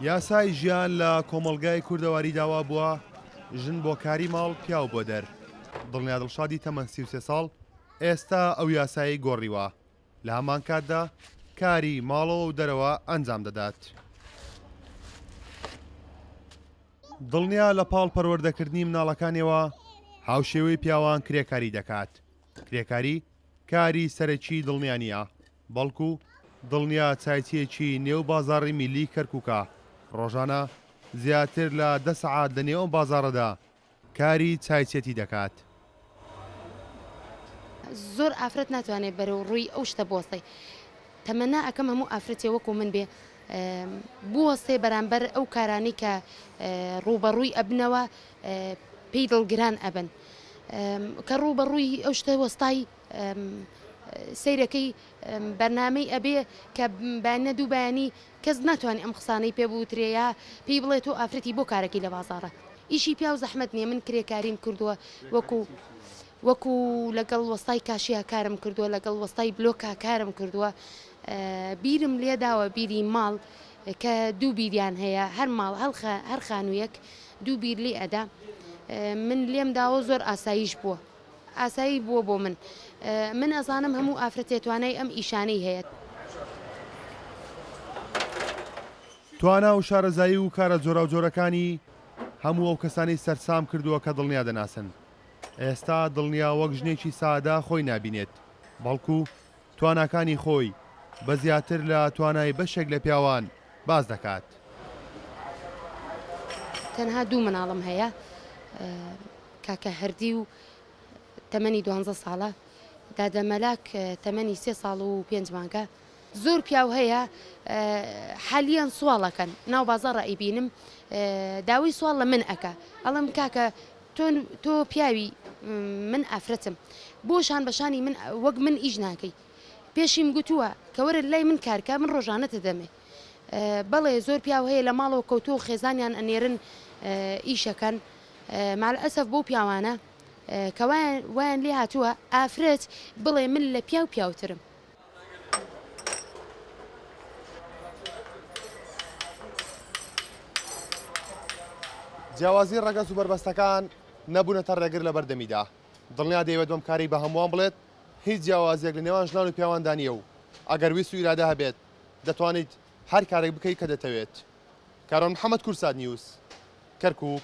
یاسای ژیان لە کۆمەڵگای کوردەواری داوا بووە ژن بۆ کاری ماڵ پیاو بۆ دەر دڵنیا دڵشادی تەمەن سی سێ ساڵ ئێستا ئەو یاسایی گۆڕیوە لە هەمان کاتدا کاری ماڵەوە و دەرەوە ئەنجام دەدات. دڵنیا لە پاڵ پەروەردەکردنی مناڵەکانیەوە هاوشێوەی پیاوان کرێکاری دەکات کرێکاری کاری سەرەکی دڵنیانە بەڵکو دڵنیا چایچییەکی نێو بازاڕی میللی کەرکوکە، ڕۆژانە زیاتر لە دە سەعات لە نێو ئەم بازاڕەدا کاری چایچێتی دەکات. زۆر ئافرەت ناتوانێ بەرەو ڕووی ئەو شتە بوەستێ. تەمەنا ئەکەم هەموو ئافرەتێ وەکو من بێ بوەستێ بەرامبەر ئەو کارانەی کە ڕووبەڕووی ئەبنەوە پێی دڵگران ئەبن. کە ڕووبەڕووی ئەو شتە وەستای سەیرەکەی بەرنامەی ئەبێ کە بانە دوو بەیانی کەس ناتوانانی ئەم قسانەی پێ بوترێە پێی بڵێت و ئافرەتی بۆ کارەکەی لە بازارە ئیشی پیا و زەحمت نیە من کرێکاریم کردووە وەکو وەکو لەگەڵ وەستای کاشیا کارم کردووە لەگەڵ وەستای بلۆکا کارم کردووە بیرم لێداوە بیری ماڵ کە دوو بیریان هەیە هەر ماڵ هەڵخە هەر خانوویەک دوو بیر لێ ئەدا من لێم داوە زۆر ئاساییش بووە ئاسایی بووە بۆ من. من ئەزانم هەموو ئافرەتێ توانای ئەم ئیشانەی هەیە. توانا و شارەزایی و کارە جۆراوجۆرەکانی هەموو ئەو کەسانەی سەرسام کردووە کە دڵنیا دەناسن. ئێستا دڵنیا وەک ژنێکی سادە خۆی نابینێت، بەڵکو تواناکانی خۆی بە زیاتر لە توانای بەشێک لە پیاوان باس دەکات. تەنها دوو مناڵم هەیە، کاکە هەردی و تەمەنی دوانزە ساڵە، دادە مەلاک تەمەنی سێ ساڵ و پێنج مانگە، زۆر پیاو هەیە حالیەن سواڵ ئەکەن ناو بازاڕ ئەیبینم داوای سواڵ لە من ئەکا ئەڵێم کاکە تۆ تۆ پیاوی من ئافرەتم بۆ شان بە شانی من وەک من ئیش ناکەی پێشیم گوتووە کە وەرە لای من کارکە من ڕۆژانە تدەمێ بەڵێ زۆر پیاو هەیە لە ماڵەوە کەوتو و خێزانیان ئەنێرن ئیشەکەن مال ئەسەف بۆ پیاوانە کە وایان لێ هاتووە ئافرەت بڵێ من لە پیاو پیاوترم جیاوازی ڕەگەز و بەربەستەکان نەبوونەتە ڕێگر لە بەردەمیدا دڵنیا دەیەوێت بەم کاری بە هەمووان بڵێت هیچ جیاوازیەک لە نێوان ژنان و پیاواندا نییە و ئەگەر ویست و ئیرادە هەبێت دەتوانیت هەر کارێک بکەیت کە دەتەوێت کارۆن محەممەد کورسات نیوز کەرکک